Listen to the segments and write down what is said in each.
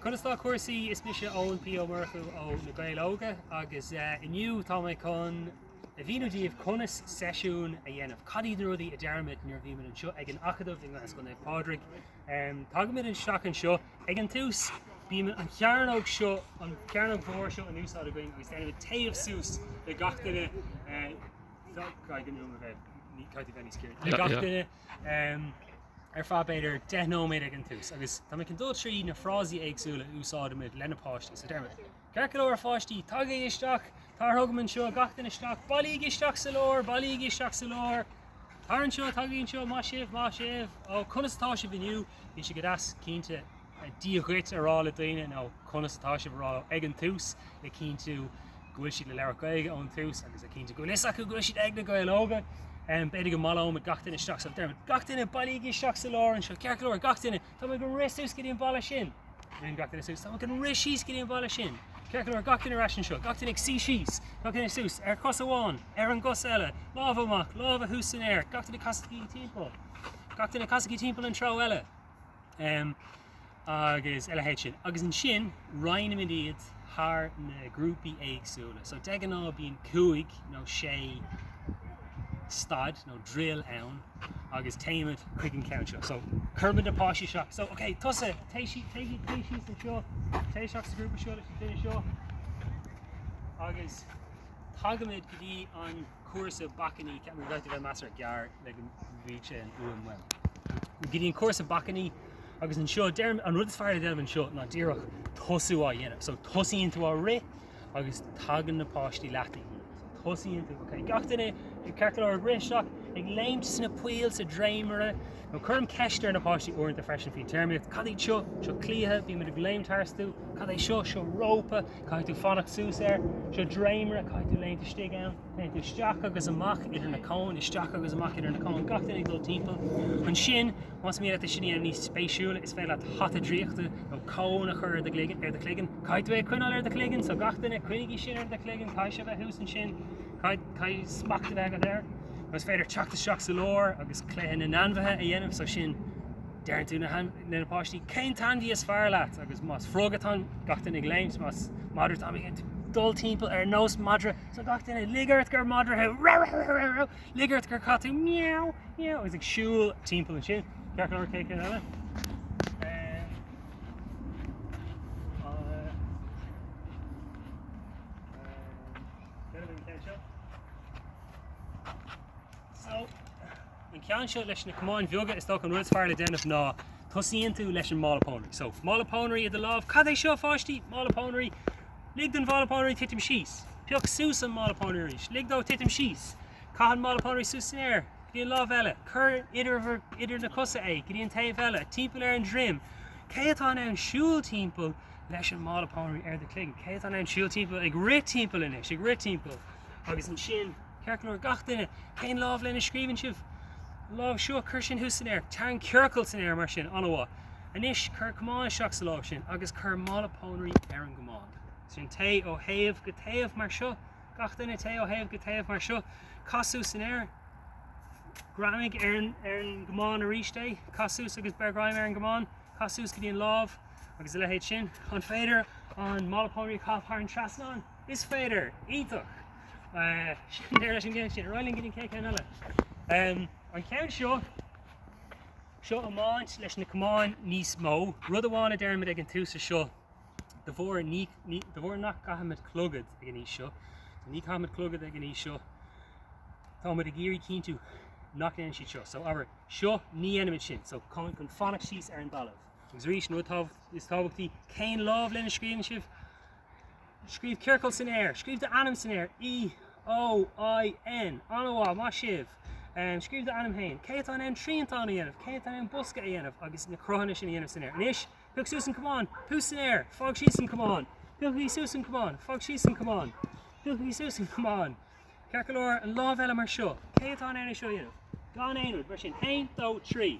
Conas tá cúrsaí? Is mise Eoin P. Ó Murchú ó Na Gaeil Óga agus inniu tá mé chun a mhíniú daoibh conas seisiún a dhéanamh. Cad iad na rudaí a deirimid nuair a bhímid anseo ag an Acadamh i nGleann Naomh Pádraig. Tagaimid isteach anseo ag an tús, bíonn an chearnóg seo, an chearnóg mhór seo in úsáid againn agus déanaimid téamh suas le gach duine, le gach duine. ar feadh b'fhéidir deich nóiméad ag an tús agus tá mé chun dul trí na frásaí éagsúla a úsáidimid le na páistí so deirimid. Ceart go leor a pháistí, tagaigí isteach, tar, tagaigí anseo gach duine isteach, bailígí isteach sa lár, bailígí isteach sa lár, tar anseo, tagaigí anseo, maith sibh, maith sibh, ó conas atá sibh inniu, bhí sé go deas, cinnte, Dia dhuit a rá le daoine nó conas atá sibh a rá leo ag an tús le cinntiú go bhfuil siad le labhairt Gaeilge ón tús agus le cinntiú go bhfuil fhios acu go bhfuil siad ag Na Gaeil Óga. B'fhéidir go mbaileoimid gach duine isteach so deirimid, gach duine bailígí isteach sa lár anseo, ceart go leor, gach duine, tá muid ag rith suas go dtí an balla sin. Gach duine suas, tá muid ag rith síos go dtí an balla sin. Ceart go leor, gach duine ar ais anseo, gach duine ag suí síos, gach duine suas, ar chos amháin, ar an gcos eile, lámha amach, lámha thuas san aer, gach duine casaigí timpeall, gach duine casaigí timpeall an treo eile. em. agus a leithéid sin. Agus ansin roinnimid iad thar na grúpaí éagsúla. So de ghnáth bíonn cúig nó sé stad nó drill ann agus téimid chuig an gceann seo. So cuirimid na páistí seo, so ok tusa téigh síos, téigh síos, téigh síos anseo, téigh isteach sa ghrúpa seo leis an duine seo. Agus tagaimid go dtí an. cúrsa bacainní b'fhéidir go gcaithfidh mé a bheith measartha gearr le go mbíodh sé an fhuaim well go dtí an cúrsa bacainní agus anseo deirim an rud is fearr le déanamh anseo ná díreach tosú á dhéanamh so tosaíonn tú á rith agus tagann na páistí leat ag rith so tosaíonn tú ok gach duine ag ceart go leor ag rith isteach ag léimt sna poill sa dréimire nó cuirim ceist ar na páistí uaireanta freisin faoin téarmaíocht cad iad seo seo cliatha bímid ag léimt tharstu cad é seo seo rópa Caithfidh tú fanacht suas air. Seo dréimire, caithfidh tú léimt istigh ann. Téann tú isteach agus amach idir na cóin, isteach agus amach idir na cóin, gach duine ag dul timpeall. Ansin, más mian leat é sin a dhéanamh níos spéisiúla, is féidir leat hata draíochta nó cón a chur ar do gcloigeann, ar do chloigeann. Caithfidh tú é a choinneáil ar do chloigeann, so gach duine, coinnígí sin ar do chloigeann, caithfidh sé a bheith thuas ansin, caithfidh, caithfidh smacht a bheith agat air. Nó is féidir teacht isteach sa lár agus cluiche na n-ainmhithe a dhéanamh, so sin, Deireann tú le na páistí cén t-ainmhí is fearr leat agus más frog atá ann gach duine ag léimt, más madra atá ann dul timpeall ar nós madra so gach duine lig ort gur madra thú rau rau rau rau rau, lig ort gur cat thú meow meow agus ag siúl timpeall ansin. Ceart go leor cén ceann eile? Ehm, ehm, ceann eile an ceann seo. So. An ceann seo leis na camáin bheaga, is dócha an rud is fearr le déanamh ná tosaíonn tú leis an mála pónairí. So, mála pónairí i do lámh, cad é seo a pháistí? Mála pónairí. Lig don mhála pónairí titim síos. Pioc suas an mála pónairí arís. Lig dó titim síos. Caith an mála pónairí suas san aer, go dtí an lámh eile. Cuir idir na cosa é, go dtí an taobh eile. Timpeall ar an droim. Cé atá in ann siúl timpeall leis an mála pónairí ar do chloigeann? Cé atá in ann siúl timpeall, ag rith timpeall anois, ag rith timpeall? Agus ansin. Ceart go leor, gach duine, cén lámh lena scríobhann sibh? An lámh seo, cuir sin thuas san aer. Tarraing ciorcal san aer, mar sin, an-mhaith. Anois, cuir camán isteach sa láimh sin agus cuir mála pónairí ar an gcamán. Sin, téigh ó thaobh go taobh, mar seo. Gach duine, téigh ó thaobh go taobh, mar seo. Caith suas san aer. Greamaigh ar an, ar an gcamán arís é. Caith suas agus beir greim ar an gcamán. Caith suas go dtí an lámh, agus a leithéid sin. An féidir an mála pónairí a chaitheamh thar an trasnán? Is féidir! Iontach! Sin deireadh leis an gceann sin. Ar aghaidh linn go dtí an chéad cheann eile. An ceann seo, seo iomáint leis na camáin níos mó. Rud amháin a deirimid ag an tús ar seo, de bharr, de bharr nach gcaithimid clogad ag an aois seo, so ní chaithimid clogad ag an aois seo, táimid ag iarraidh cinntiú nach ndéanann siad seo. So, abair, seo, ní dhéanaimid sin. So, chun fanacht síos ar an dtalamh. Agus arís, an rud tábhacht, is tábhachtaí, cén lámh lena scríobhann sibh? Scríobh ciorcal san aer. Scríobh d'ainm san aer. E, O, I, N. An-mhaith, maith sibh. Scríobh d'ainm féin. Cé atá in ann triantán a dhéanamh? Cé atá in ann bosca a dhéanamh agus na cruthanna sin a dhéanamh san aer? Anois, pioc suas an camán. Thuas san aer. Fág síos an camán. Pioc suas an camán. Fág síos an camán. Pioc suas an camán. Ceart go leor, an lámh eile mar seo. Cé atá in ann é seo a dhéanamh? Gan aon rud, mar sin. Aon, dó, trí.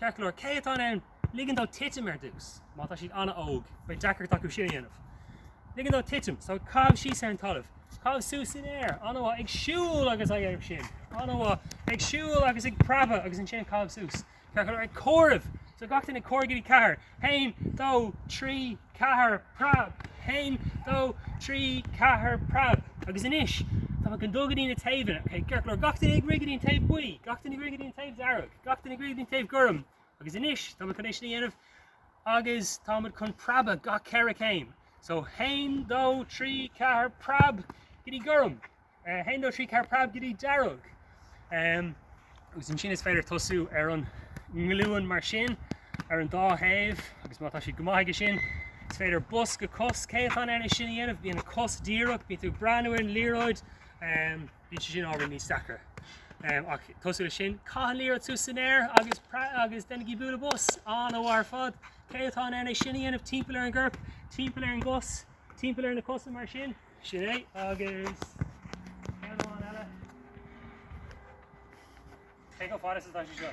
Ceart go leor, cé atá in ann ligean dó titim ar dtús? Má tá siad an-óg, beidh deacracht acu sin a dhéanamh. Ligean dó titim, so caitheamh síos ar an talamh, caitheamh suas san aer, an-mhaith, ag siúl agus á dhéanamh sin, an-mhaith, ag siúl agus ag preabadh agus ansin ag caitheamh suas. Ceart go leor, ag comhaireamh, so gach duine ag comhaireamh go dtí ceathair. haon, dó, trí, ceathair, preab! haon, dó, trí, ceathair, preab! Agus anois, tá muid chun dul go dtí na taobhanna, ok? Ceart go leor, gach duine ag rith go dtí an taobh buí, gach duine ag rith go dtí an taobh dearg, gach duine ag rith go dtí an taobh gorm. Agus anois, tá muid chun é sin a dhéanamh agus tá muid chun preabadh gach ceithre céim. So, haon, dó, trí, ceathair, preab! Go dtí gorm! 1 2 3 4 Preab go dtí dearg. Agus ansin is féidir tosú ar an nglúin mar sin ar an dá thaobh agus má tá siad go maith aige sin is féidir bos go cos cé atá in ann é sin a dhéanamh, bíonn an cos díreach, bíonn tú ag breathnú ar an liathróid, bíonn sé sin ábhar níos deacra. Ach tosú leis sin, caith an liathróid suas san aer agus agus déanaigí bualadh bos, an-mhaith ar fad. Cé atá in ann é sin a dhéanamh timpeall ar an gcorp, timpeall ar an gcos, timpeall ar na cosa mar sin? Sin é agus ceann amháin eile. Cé chomh fada is atá sé seo?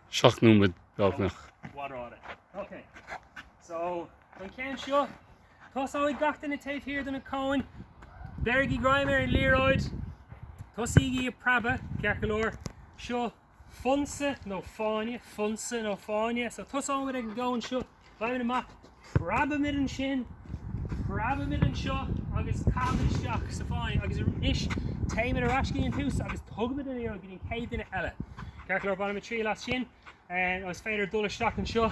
Seacht nóiméad beagnach. Mh'anam. Ok. So, don cheann seo, tosóidh gach duine taobh thiar de na cóin, beirigí greim ar an liathróid, tosaígí a' preabadh, ceart go leor, seo, Fonsa nó fáinne, fonsa nó fáinne. So tosóimid ag an gceann seo, gabhaimid amach, preabaimid ansin, preabaimid anseo agus caithimid isteach sa fáinne agus anois téimid ar ais go dtí an tús agus tugaimid an liathróid go dtí an chéad duine eile. Ceart go leor, bainimid triail as sin. Is féidir dul isteach anseo.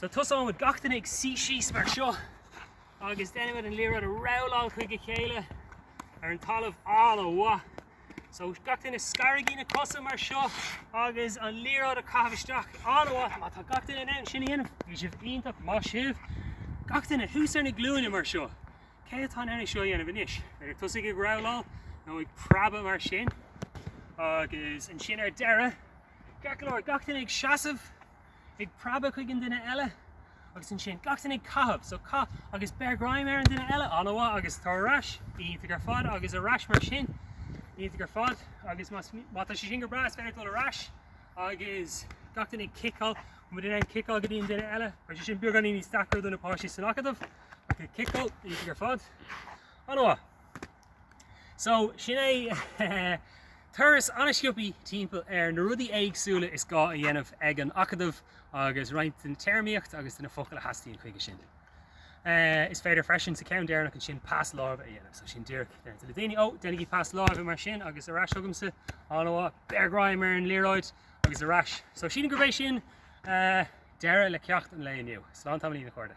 So tosóimid gach duine ag suí síos mar seo agus déanaimid an liathróid a rabhláil chuig a chéile ar an talamh an-mhaith. So gach duine scaraigí na cosa mar seo agus an liathróid a chaitheamh isteach an-mhaith. Má tá gach duine in ann sin a dhéanamh, bhí sibh iontach, maith sibh. Gach duine thuas ar na glúine mar seo. Cé atá in ann é seo a dhéanamh anois? B'fhéidir tosaigh ag rabhláil nó ag preabadh mar sin agus ansin ar deireadh, ceart go leor, gach duine ag seasamh. ag preabadh chuig an duine eile agus ansin gach duine ag caitheamh so caith agus beir greim ar an duine eile an-mhaith agus ar ais iontach ar fad agus ar ais mar sin iontach ar fad agus más má tá sé sin go breá is féidir dul ar ais agus gach duine ag ciceáil mu duine ag ciceáil go dtí an duine eile mar sin beagáinín níos deacra do na páistí san acadamh ach ag ciceáil iontach ar fad an-mhaith. So, sin é turas an-sciopthaí timpeall ar na rudaí éagsúla is gá a dhéanamh ag an Acadamh agus roinnt den téarmaíocht agus de na focail a theastaíonn chuige sin. Is féidir freisin sa ceann deireanach ansin pas láimhe a dhéanamh, so sin díreach le daoine, 'Ó, déanaigí pas láimhe mar sin agus ar ais chugamsa', 'An-mhaith, beir greim ar an liathróid agus ar ais'. So sílim gurb é sin deireadh le ceacht an lae inniu. Slán tamaillín a chairde.